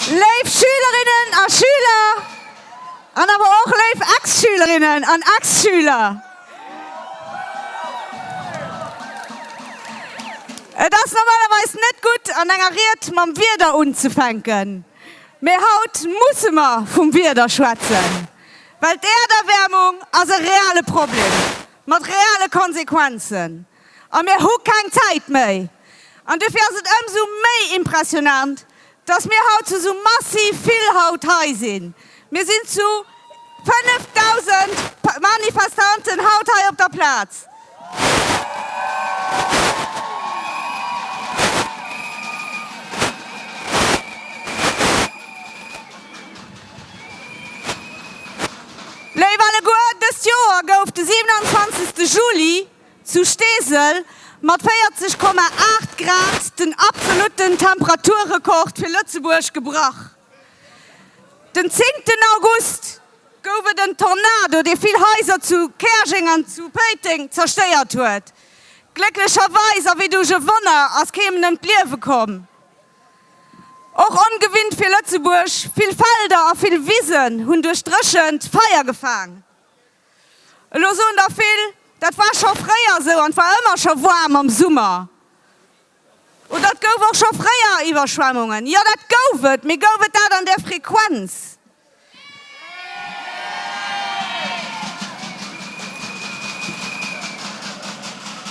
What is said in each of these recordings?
Léif Schülerinnen a Schüler an awer och léif Ex-Schülerinnen an Ex-Schüler, Et ass normalerweis net gutt, an enger Ried mam Wieder unzefänken, mee haut musse mer vum Wieder schwätzen, well d'Äerderwäermung ass e reale Problem mat reale Konsequenzen. A mir hu keng Zäit méi. An duerfir ass et ëmsou méi impressionant, dass mir haut zu esou massiv vill haut hei sinn. Mir sinn zu 5.000 Manifestanten haut hei op der Plaz. Léif alleguer, dëst Joer gouf de 27. Juli, Zu Steesel mat 40,8 Grad den absolutten Temperaturrekord fir Lëtzebuerg gebrach. Den 10 ten August gouf et en Tornado, dee vill Haiser zu Käerjeng an zu Péiteng zerstéiert huet. Glécklecherweis a wéi duerch e Wonner ass keemem ëm d'Liewe komm. Och ongewinnt fir Lëtzebuerg, vill Felder a vill Wisen hunn duerch d'Dréchent Feier gefaang. Elo soen der vill, dat war scho fréier esou an et war ëmmer scho waarm am Summer oder et gouf och scho fréier Iwwerschwemmungen. Jo, dat gouf et, mee gouf et dat an där Frequenz?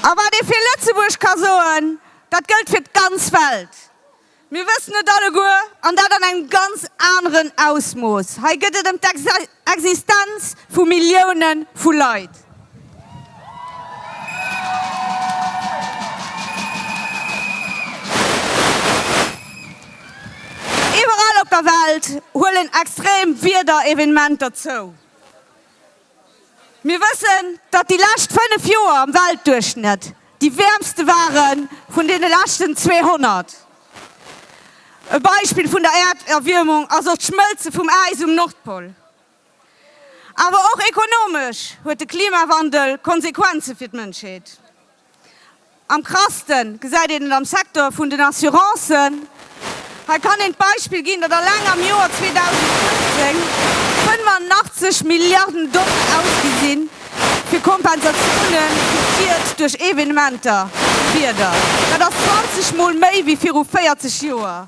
A wat ee fir Lëtzebuerg ka soen, dat gëllt fir d'ganz Welt. Mir wëssen et alleguer, an dat an engem ganz aneren Ausmooss, hei gëtt et ëm d'Existenz vu Millioune vu Leit. Iwwerall op der Welt huelen extrem Wiederevenementer zou. Mir wëssen, datt déi lescht 5 Joer am Weltduerchschnëtt déi wäermste ware vun deene leschten 200. E Beispill vun der Äerderwiermung ass och d'Schmëlze vum Äis um Nordpol. Awer och ekonomesch huet de Klimawandel Konsequenze fir d'Mënschheet. Am krassten gesäit een et am Secteur vun den Assurancen. Hei kann een d'Beispill ginn, datt alleng am Joer 2015 85 Milliarden Doll ausgi sinn, fir Kompensatioune fir d'Schied duerch Evenementer, Wieder. Dat ass 20 Mol méi wéi viru 40 Joer.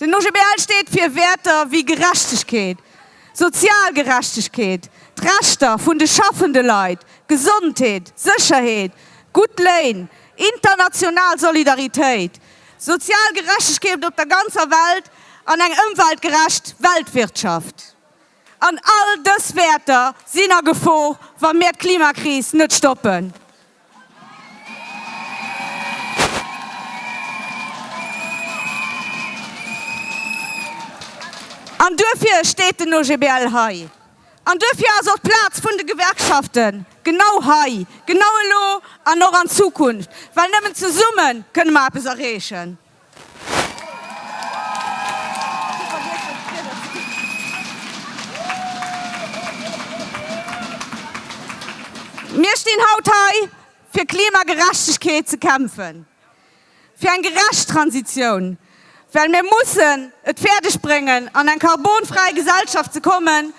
Den OGBL steet fir Wäerter wéi Gerechtegkeet, sozial Gerechtegkeet, d'Rechter vun de schaffende Leit, Gesondheet, Sécherheet, gutt Léin, international Solidaritéit, sozial Gerechtegkeet op der ganzer Welt an eng ëmweltgerecht Weltwirtschaft. An all dës Wäerter sinn a Gefor, wa mir d'Klimakris net stoppen. An duerfir steet den OGBL hei. An duerfir ass och d'Plaz vun de Gewerkschaften genau hei, genau elo an och an Zukunft, well nëmmen zesumme kënne mer eppes erreechen. Mir stinn haut hei, fir Klimagerechtegkeet ze kämpfen, fir eng gerecht Transitioun, well mir mussen et fäerdegbréngen, an eng karbonfräi Gesellschaft ze kommen,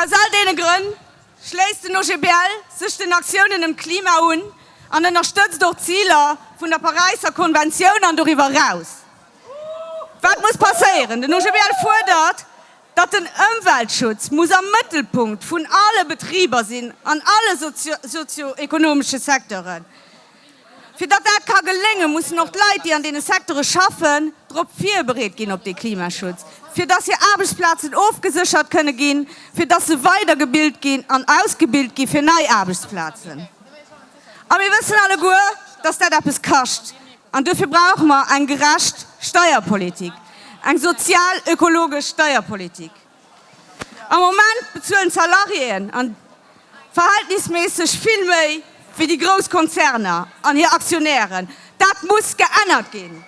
Aus all deene Grënn schléisst den OGBL sech den Aktiounen ëm d'Klima un an ënnerstëtzt och d'Ziler vun der Paräisser Konventioun an doriwwer eraus. Wat muss passéieren? Den OGBL fuerdert, datt den Ëmweltschutz muss am Mëttelpunkt vun alle Betriber sinn an alle sozio-ekonomesche Secteuren. Fir datt dat ka geléngen, mussen och d'Leit, déi an deene Secteure schaffen, drop virbereet ginn op dee Klimaschutz, fir datt hir Aarbechtsplazen ofgeséchert kënne ginn, fir datt se weidergebilt ginn an ausgebilt gi fir nei Aarbechtsplazen. A mir wëssen alleguer, datt dat eppes kascht. An duerfir brauche mer eng gerecht Steierpolitik, eng sozial-ökologesch Steierpolitik. Am Moment bezuelen d'Salariéen an verhältnisméisseg vill méi wéi déi grouss Konzerner an hir Aktionären. Dat muss geännert ginn.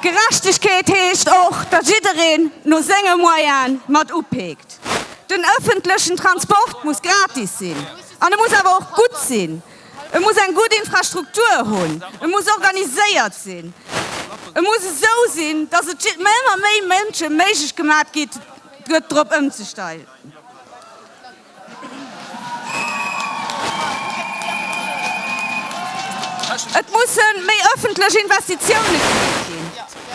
Gerechtegkeet heescht och, datt jiddereen no senge Moyene mat upeekt. Den ëffentlechen Transport muss gratis sinn an e muss awer och gutt sinn. E muss eng gutt Infrastruktur hunn, e muss organiséiert sinn, e muss esou sinn, datt et ëmmer méi Mënsche méiglech gemaat gëtt, drop ëmzestellen. Et mussen méi ëffentlech Investitiounen gemeet ginn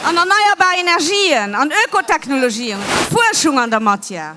an erneierbar Energien, an Ökotechnologien, a Fuerschung an der Matière.